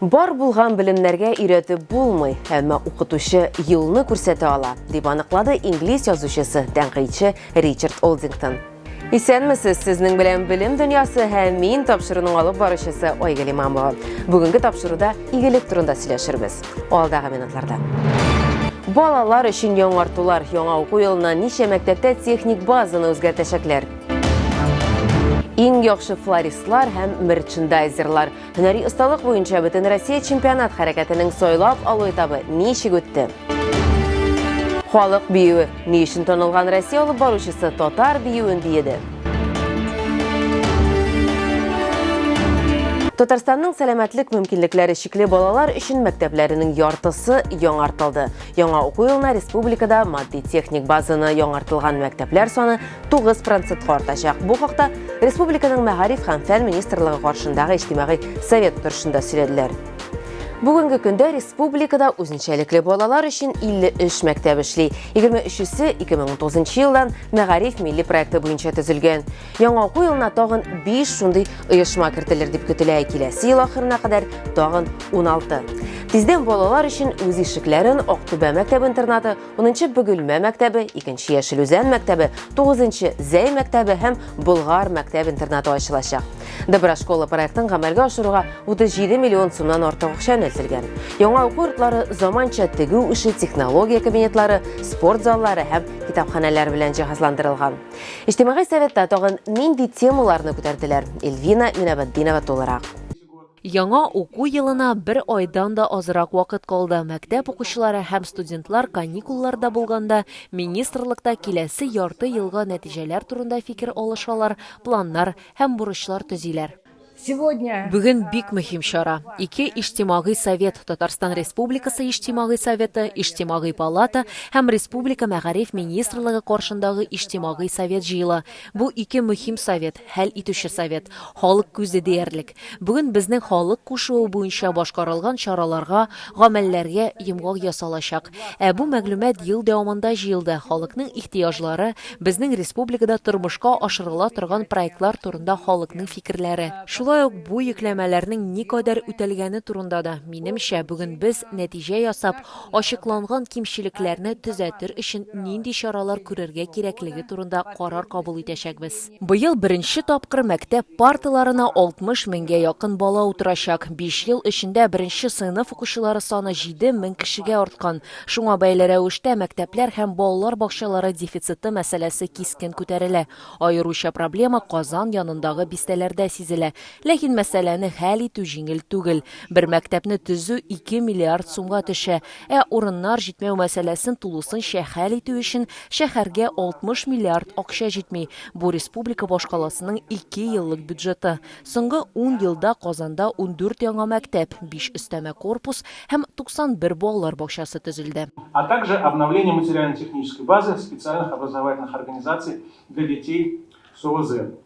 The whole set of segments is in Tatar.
Бар булган белемнәргә өйрәтеп булмый, әмма укытучы юлны күрсәтә ала, дип аныклады инглиз язучысы, тәнкыйтьче Ричард Олдингтон. Исәнмесез, сезнең белән Белем дөньясы һәм мин тапшыруның алып баручысы Айгөл Имамова. Бүгенге тапшыруда игелек турында сөйләшербез. Алдагы минутларда. Балалар өчен яңартулар яңа уку елына ничә мәктәптә техник базаны үзгәртәчәкләр? Иң яхшы флористлар һәм мерчендайзерлар Һөнәри осталык буенча Бөтенроссия чемпионат хәрәкәтенең сайлап алу этабы ничек үтте? Халык биюе ни өчен танылган Россия алып баручысы татар биюен биеде? Татарстанның сәламәтлек мөмкинлекләре чикле балалар өчен мәктәпләренең яртысы яңартылды. Яңа уку елына республикада матди-техник базаны яңартылган мәктәпләр саны 9 процентка артачак. Бу хакта республиканың мәгариф һәм фән министрлыгы каршындагы иҗтимагый совет утырышында сөйләделәр. Бүгенге көндә республикада үзенчәлекле балалар өчен 53 мәктәп эшли. 23-се 2009 елдан Мәгариф милли проекты буенча төзелгән. Яңа уку елына тагын 5 шундый оешма кертелер дип көтелә. Киләсе ел ахырына кадәр тагын 16. Тиздән балалар өчен үз ишекләрен Актүбә мәктәп-интернаты Унынчы Бөгелмә мәктәбе, икенче Яшел Үзән мәктәбе, тугызынчы Зәй мәктәбе һәм Болгар мәктәп-интернаты ачылачак. Доброшкола проектын гамәлгә ашыруга 37 миллион сумнан артык акча юнәлтелгән. Яңа уку йортлары заманча тегү эше технология кабинетлары, спорт заллары һәм китапханәләр белән җиһазландырылган. Иҗтимагый советта тагын нинди темаларны күтәрделәр? Эльвина Минабатдинова тулырак. Яңа уку елына бер айдан да азрак вакыт калды. Мәктәп укучылары һәм студентлар каникулларда булганда министрлыкта киләсе ярты елга нәтиҗәләр турында фикер алышалар, планнар һәм бурычлар төзиләр. Бүген бик мөһим чара. Ике Иҗтимагый совет, Татарстан Республикасы Иҗтимагый советы, Иҗтимагый палата һәм Республика Мәгариф министрлыгы каршындагы Иҗтимагый совет җыела. Бу ике мөһим совет, хәл итүче совет. Халык күзе диярлек. Бүген безнең халык кушуы буенча башкарылган чараларга, гамәлләргә йомгак ясалачак. Ә бу мәгълүмат ел дәвамында җыелды, халыкның ихтыяҗлары, безнең республикада тормышка ашырыла торган проектлар турында халыкның фикерләре, шулай ук бу йөкләмәләрнең никадәр үтәлгәне турында да, минемчә, бүген без, нәтиҗә ясап, ачыкланган кимчелекләрне төзәтер өчен нинди чаралар күрергә кирәклеге турында карар кабул итәчәкбез. Быел беренче тапкыр мәктәп парталарына 60 меңгә якын бала утырачак. 5 ел эчендә беренче сыйныф укучылары саны 7 мең кешегә арткан. Шуңа бәйле рәвештә мәктәпләр һәм балалар бакчалары дефициты мәсьәләсе кискен күтәрелә. Аеруча проблема Казан янындагы бистәләрдә сизелә. Ләкин мәсьәләне хәл итү җиңел түгел. Бер мәктәпне төзү ике миллиард сумга төшә. Ә урыннар җитмәү мәсьәләсен тулысынча хәл итү өчен шәһәргә 60 миллиард акча җитми. Бу республика башкаласының ике еллык бюджеты. Соңгы ун елда Казанда ундүрт яңа мәктәп, биш өстәмә корпус һәм 91 балалар бакчасы төзелде. а также обновление материально-технической базы специальных образовательных организаций для детей с ОВЗ.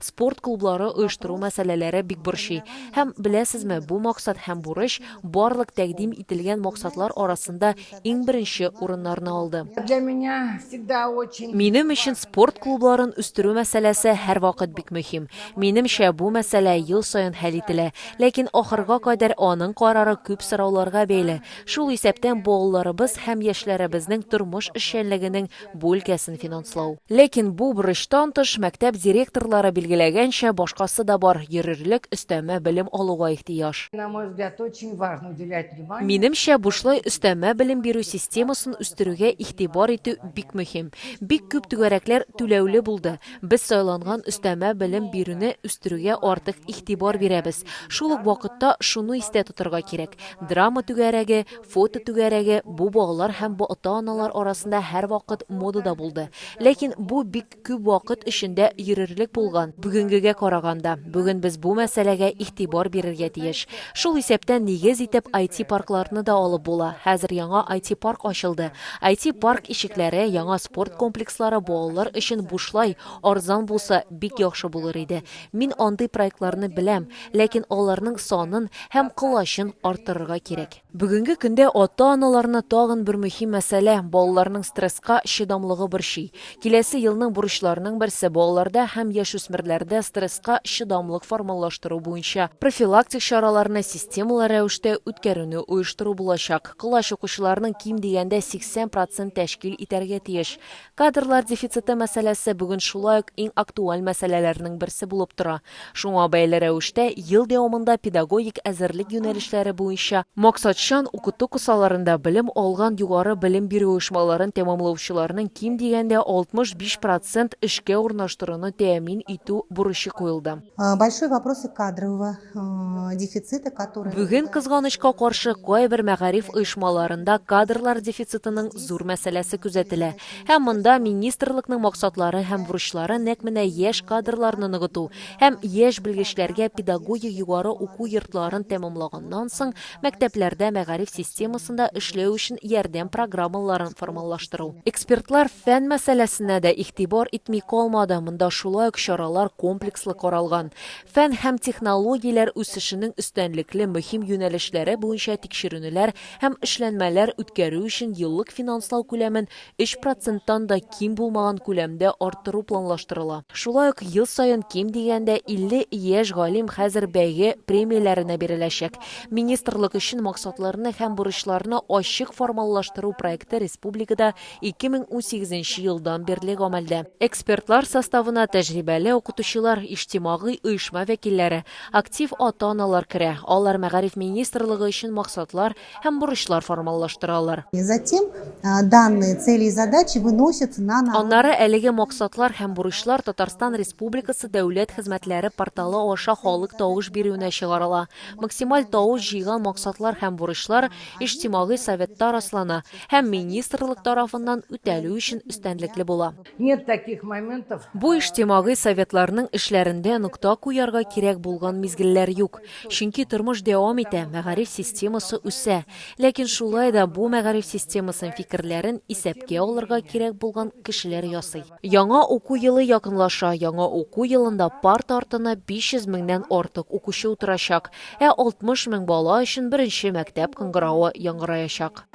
Спорт клублары оештыру мәсьәләләре бик борчый. Һәм, беләсезме, бу максат һәм бурыч барлык тәкъдим ителгән максатлар арасында иң беренче урыннарны алды. Минем өчен спорт клубларын үстерү мәсьәләсе һәрвакыт бик мөһим. Минемчә, бу мәсьәлә ел саен хәл ителә. Ләкин ахырга кадәр аның карары күп сорауларга бәйле, шул исәптән балаларыбыз һәм яшьләребезнең тормыш эшчәнлегенең бу өлкәсен финанслау. Ләкин бу бурычтан тыш, мәктәп директорлары билгеләгәнчә, башкасы да бар, йөрерлек өстәмә белем алуга ихтыяҗ. Минемчә, бушлай өстәмә белем бирү системасын үстерүгә игътибар итү бик мөһим. Бик күп түгәрәкләр түләүле булды. Без сайланган өстәмә белем бирүне үстерүгә артык игътибар бирәбез. Шул ук вакытта шуны истә тотырга кирәк, драма түгәрәге, Фото түгәрәге бу балалар һәм бу ата-аналар арасында һәрвакыт модада булды. Ләкин бу бик күп вакыт эчендә йөрерлек булган, бүгенгегә караганда. Бүген без бу мәсьәләгә игътибар бирергә тиеш. Шул исәптән нигез итеп IT-паркларны да алып була. Хәзер яңа IT-парк ачылды. IT-парк ишекләре, яңа спорт комплекслары балалар өчен бушлай, арзан булса, бик яхшы булыр иде. Мин андый проектларны беләм, ләкин аларның санын һәм колачын арттырырга кирәк. Бүгенге көндә ата-аналарны тагын бер мөһим мәсьәлә, балаларның стресска чыдамлыгы борчый. Киләсе елның бурычларының берсе, балаларда һәм яшүсмерләрдә стресска чыдамлык формалаштыру буенча профилактик чараларны системалы рәвештә үткәрүне оештыру булачак. Колач укучыларның ким дигәндә 80 процент тәшкил итәргә тиеш. Кадрлар дефициты мәсьәләсе бүген шулай ук иң актуаль мәсьәләләрнең берсе булып тора. Шуңа бәйле рәвештә, ел дәвамында педагогик әзерлек юнәлешләре буенча, максатчан укыту кысаларында белем алган югары белем бирү оешмаларын тәмамлаучыларның ким дигәндә 65 процент эшкә урнаштыруны тәэмин итү бурычы куелды. Большой вопросы кадрового Бүген, кызганычка каршы, кайбер мәгариф оешмаларында кадрлар дефицитының зур мәсьәләсе күзәтелә. Һәм монда министрлыкның максатлары һәм бурычлары нәкъ менә яшь кадрларны ныгыту һәм яшь белгечләргә педагогия югары уку йортларын тәмамлаганнан соң мәктәпләрдә мәгариф системасында эшләү өчен ярдәм программаларын формалаштыру. Экспертлар фән мәсьәләсенә дә игътибар итми калмады, монда шулай ук чаралар комплекслы каралган. Фән һәм технологияләр үсешенең өстәнлекле мөһим юнәлешләре буенча тикшеренүләр һәм эшләнмәләр үткәрү өчен еллык финанслау күләмен 3 проценттан да ким булмаган күләмдә арттыру планлаштырыла. Шулай ук ел саен ким дигәндә 50 яшь галим хәзер бәйге премияләренә биреләчәк. Министрлык өчен максатларны һәм бурычларны ачык формаллаштыру проекты республикада 2018 нче елдан бирле гамәлдә. Экспертлар составына тәҗрибәле укытучылар, иҗтимагый оешма вәкилләре, актив ата-аналар керә, алар Мәгариф министрлыгы өчен максатлар һәм бурычлар формаллаштыралар. Затем данные цели и задачи выносятся на народ. Аннары әлеге максатлар һәм бурычлар Татарстан Республикасы Дәүләт хезмәтләре порталы аша халык тавыш бирүенә чыгарыла. Максималь тавыш җыйган максатлар һәм бурычлар Иҗтимагый советта раслана һәм министрлык тарафыннан үтәлү өчен өстәнлекле була. Бу иҗтимагый советларның эшләрендә нокта куярга кирәк булган мизгелләр юк, чөнки тормыш дәвам итә, мәгариф системасы үсә. Ләкин шулай да бу мәгариф системасын фикерләрен исәпкә алырга кирәк булган кешеләр ясый. Яңа уку елы якынлаша. Яңа уку елында парт артына 500 меңнән артык укучы утырачак. Ә 60 мең бала өчен беренче мәктәп кыңгыравы яңгыраячак.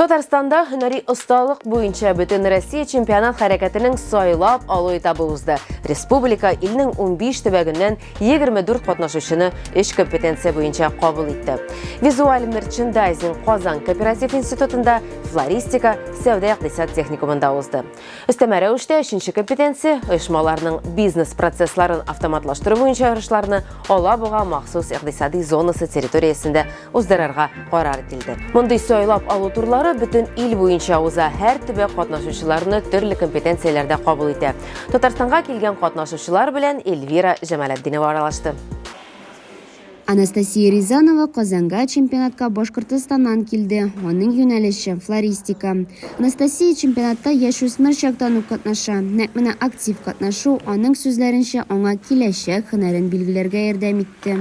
Татарстанда һөнәри осталык буенча Бөтенроссия чемпионат хәрәкәтенең сайлап алу этабы узды. Республика илнең 15 төбәгеннән 24 катнашучыны өч компетенция буенча кабул итте. Визуаль мерчендайзинг Казан кооператив институтында, флористика, сәүдә-икътисад техникумында узды. Өстәмә рәвештә өченче компетенция, оешмаларның бизнес процессларын автоматлаштыру буенча ярышларны Алабуга махсус икътисади зонасы территориясендә уздырырга карар ителде. Мондый сайлап алу турлары бөтен ил буенча уза, һәр төбәк катнашучыларны төрле компетенцияләрдә кабул итә. Татарстанга килгән катнашучылар белән Эльвира Җамалетдинова аралашты. Анастасия Рязанова Казанга чемпионатка Башкортостаннан килде. Аның юнәлеше, флористика. Анастасия чемпионатта яшүсмер чактан ук катнаша. Нәкъ менә актив катнашу, аның сүзләренчә, аңа киләчәк һөнәрен билгеләргә ярдәм итте.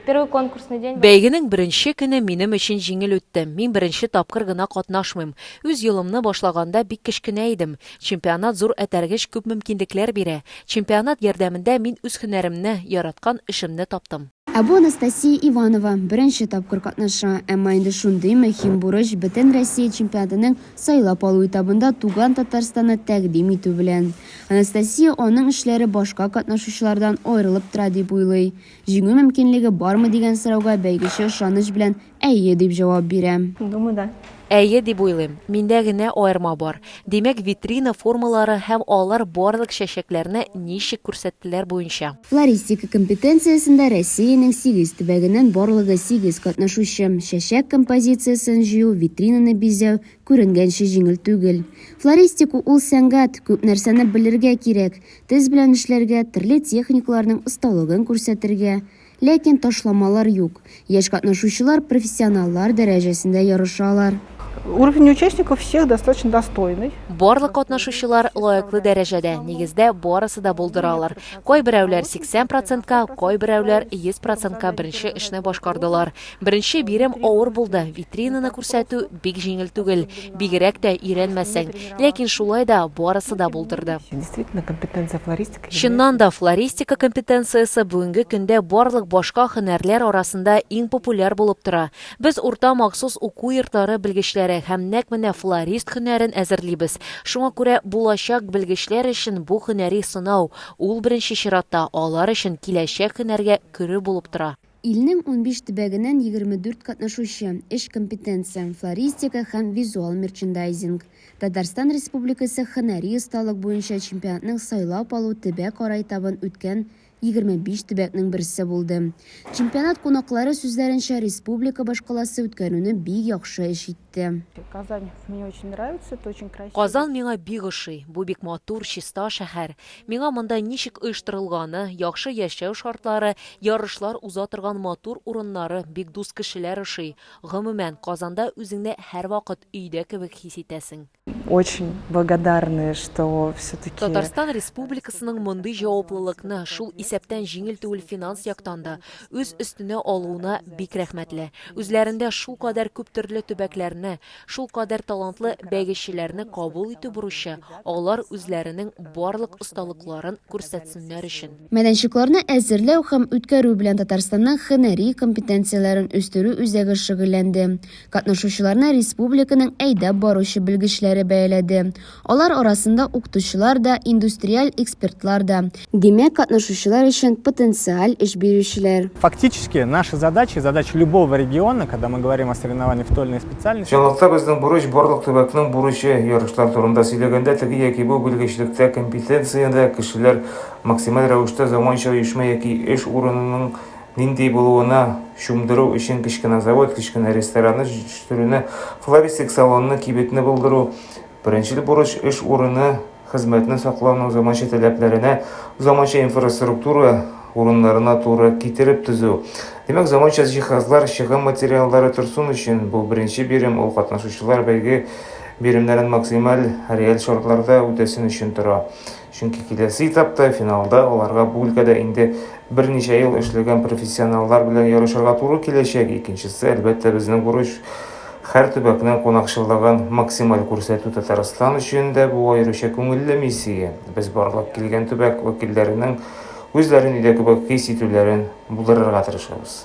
Первый конкурсный день. Бәйгенең беренче көне минем өчен җиңел үтте. Мин беренче тапкыр гына катнашмыйм. Үз юлымны башлаганда бик кечкенә идем. Чемпионат зур этәргеч, күп мөмкинлекләр бирә. Чемпионат ярдәмендә мин үз һөнәремне, яраткан эшемне таптым. Ә бу Анастасия Иванова, беренче тапкыр катнаша, әмма инде шундый мөһим бурыч, Бөтенроссия чемпионатының сайлап алу этабында туган Татарстанны тәкъдим итү белән. Анастасия аның эшләре башка катнашучылардан аерылып тора дип уйлый. Җиңү мөмкинлеге бармы дигән сорауга бәйгече ышаныч белән Әйе, дип җавап бирәм. Думаю, да. Әйе, дип уйлыйм. Миндә генә аерма бар. Димәк, витрина формалары һәм алар барлык чәчәкләрне ничек күрсәттеләр буенча. Флористика компетенциясендә Россиянең сигез төбәгеннән барлыгы сигез катнашучы. Чәчәк композициясен җыю, витринаны бизәү, күренгәнче, җиңел түгел. Флористика ул, сәнгать, күп нәрсәне белергә кирәк, тез белән эшләргә, төрле техникаларның осталыгын күрсәтергә, Ләкин ташламалар юк. Яшь катнашучылар профессионаллар дәрәҗәсендә ярышалар. Уровень участников всех достаточно достойный. Барлык катнашучылар лаеклы дәрәҗәдә, нигездә барысы да булдыра алыр. Кайберәүләр 80 процентка, кайберәүләр 100 процентка беренче эшне башкардылар. Беренче бирем авыр булды. Витринаны күрсәтү бик җиңел түгел, бигрәк тә өйрәнмәсәң. Ләкин шулай да барысы да булдырды. Действительно, компетенция флористика. Чыннан да, флористика компетенциясе бүгенге көндә барлык башка һөнәрләр арасында иң популяр булып тора. Без урта махсус уку йортлары белгечләре һәм нәкъ менә флорист һөнәрен әзерлибез. Шуңа күрә булачак белгечләр өчен бу һөнәри сынау, ул беренче чиратта алар өчен киләчәк һөнәргә керү булып тора. Илнең унбиш төбәгеннән егерме дүрт катнашучы, өч компетенция, флористика һәм визуал мерчендайзинг. Татарстан Республикасы һөнәри осталык буенча чемпионатның сайлап алу төбәк-ара этабын үткән егерме биш төбәкнең берсе булды. Чемпионат кунаклары сүзләренчә, республика башкаласы үткәрүне бик яхшы эш итте. китте. Казань мне очень нравится, это очень красиво. Казан миңа бик ошый, бу бик матур, чиста шәһәр. Миңа монда ничек оештырылганы, яхшы яшәү шартлары, ярышлар уза торган матур урыннары, бик дус кешеләр ошый. Гомумән, Казанда үзеңне һәрвакыт өйдә кебек хис итәсең. Очень благодарны, что все-таки. Татарстан Республикасының мондый җаваплылыкны, шул исәптән җиңел түгел финанс яктан да, үз өстенә алуына бик рәхмәтле. Үзләрендә шул кадәр күп төрле төбәкләрне, шул кадәр талантлы бәйгечеләрне кабул итү бурычы, алар үзләренең барлык осталыкларын күрсәтсеннәр өчен. Мәйданчыкларны әзерләү һәм үткәрү белән Татарстанның һөнәри компетенцияләрен үстерү үзәге шөгыльләнде. Катнашучыларны республиканың әйдәп баручы белгечләре бәяләде. Алар арасында укытучылар да, индустриаль экспертлар да. Димәк, катнашучылар өчен потенциаль эш бирүчеләр. Фактически, наши задачи, задачи любого региона, когда мы говорим о соревновании в той или иной специальности. Чынлыкта безнең бурыч, барлык төбәкнең бурычы, ярышлар турында сөйләгәндә, теге яки бу белгечлектә, компетенциядә кешеләр максималь рәвештә заманча оешма яки эш урынының нинди булуына чумдыру өчен кечкенә завод, кечкенә ресторанны җитештерүне, флористик салонны, кибетне булдыру, беренчел бурыч эш урыны, хезмәтне саклауның заманча таләпләренә, заманча инфраструктура урыннарына туры китереп төзү. Димәк, заманча җиһазлар, чыгым материаллары торсын өчен бу беренче бирем, ул катнашучылар бәйге биремнәрен максималь реаль шартларда үтәсен өчен тора. Чөнки киләсе этапта, финалда аларга бу өлкәдә инде берничә ел эшләгән профессионаллар белән ярышырга туры киләчәк. Икенчесе, әлбәттә, безнең бурыч, һәр төбәкнең кунакчыллыгын максималь күрсәтү. Татарстан өчен дә бу аеруча күңелле миссия. Без барлап килгән төбәк вәкилләренең үзләрен өйдә кебек хис итүләрен булдырырга тырышабыз.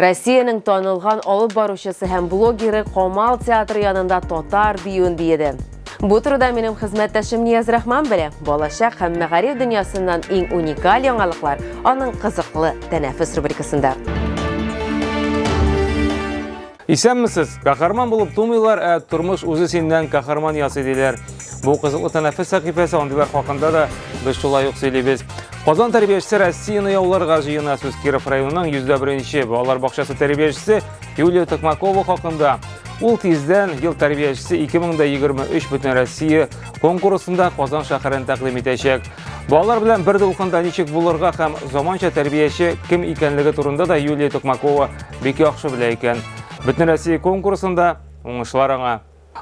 Россиянең танылган алып баручысы һәм блогеры Камал театры янында татар биюен биеде. Бу турыда минем хезмәттәшем Нияз-Рахман белә. Балачак һәм мәгариф дөньясыннан иң уникаль яңалыклар аның кызыклы тәнәфес рубрикасында. Исәнмесез! Каһарман булып тумыйлар, ә тормыш үзе синнән каһарман ясый диләр. Бу кызыклы тәнәфес сәхифәсе андыйлар хакында да без шулай ук сөйлибез. Казан тәрбиячесе Россияны яуларга җыена сүз Киров районының йөздә беренче балалар бакчасы тәрбиячесе Юлия Токмакова хакында. Ул тиздән ел тәрбиячесе 2023 бөтен Россия конкурсында Казан шәһәрен тәкъдим итәчәк. Балалар белән бер дулкында ничек булырга һәм заманча тәрбияче кем икәнлеге турында да Юлия Токмакова бик яхшы белә икән. Бөтенроссия конкурсында уңышлар аңа.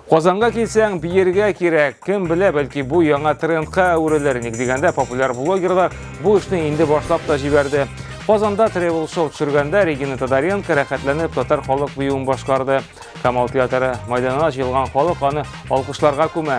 Казанга килсәң, биергә кирәк. Кем белә, бәлки бу яңа трендка әверелер. Ник дигәндә, популяр блогерлар бу эшне инде башлап та җибәрде. Казанда тревел шоу төшергәндә Регина Тодоренко рәхәтләнеп татар халык биюен башкарды. Камал театры мәйданына җыелган халык аны алкышларга күмә.